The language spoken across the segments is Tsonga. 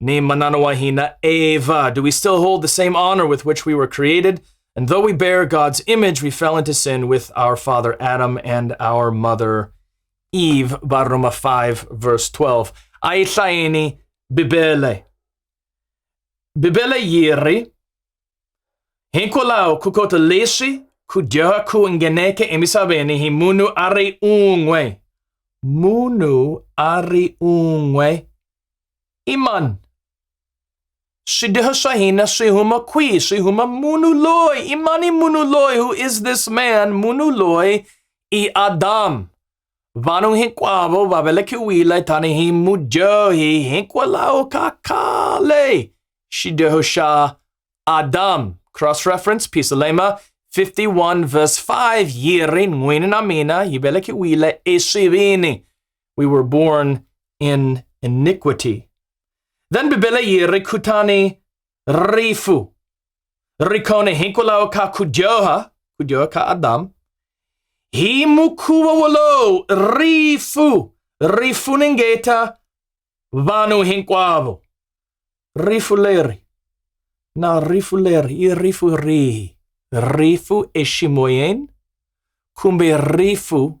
Ni Mananawahina Eva. Do we still hold the same honor with which we were created? And though we bear God's image, we fell into sin with our father Adam and our mother Eve. Baroma 5, verse 12. Aithaini Bibele. Bibele Yiri. Hinkolao kukota leshi kujaha kuingeneke emisabeni hi munu ari ungwe. Munu ari ungwe. Iman. Shidihashahina Shihuma Kui, Shihuma Munuloi, Imani Munuloi, who is this man? Munuloi i Adam. Vanu hinkwavo va velekiwile tanihi mudyohi hinkwalaho ka khale. Shidihosha Adam. Cross reference, Pisalema 51 verse 5. Yiri n'wini na mina yi velekiwile eswivini. We were born in iniquity. Then bibele ye rikutani rifu. Rikone hinkulao ka kujoha, kujoha ka Adam. Himukuwa wolo rifu. Rifu ningeta vanu hinkwavo. Rifu leri. Na rifu leri, i rifu rihi? Rifu eshimoyen kumbe rifu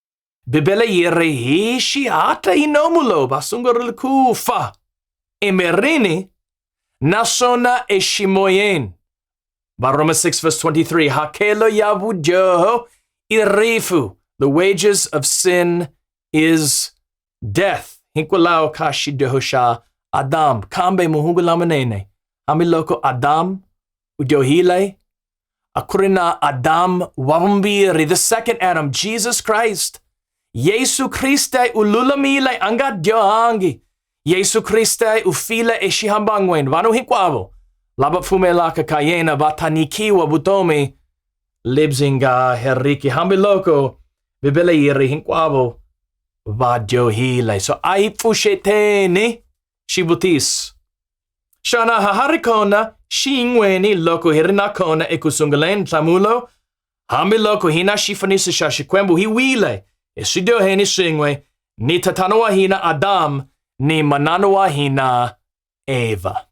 Bibele yi ri hi xihatla yi nomu lowu va sungurile ku fa emirini naswona eximoyeni varhoma 6 verse 23 hakelo ya vudyoho i rifu the wages of sin is death hikwalaho ka xidyoho xa adamu kambe mahungu lamanene hambiloko adamu u dyohile Akurina Adam Warumbi Ri, the second Adam, Jesus Christ. Jesu Christe ululamile anga dyangi. Jesu Christe ufile eshihambangwen vanu hikwavo. Laba fumela kakayena vatanikiwa butomi. Libzinga heriki hambiloko bibele yiri hinkwavo va dyohile. So a hi pfuxeteni xivutiso. Shana haharikona shingweni loko hirinakona ekusunguleni nhlamulo, hambi loko hina xifaniso xa Xikwembu hi wile eswidyoheni swin'we ni tatana wa hina Adamu ni manana wa hina Eva.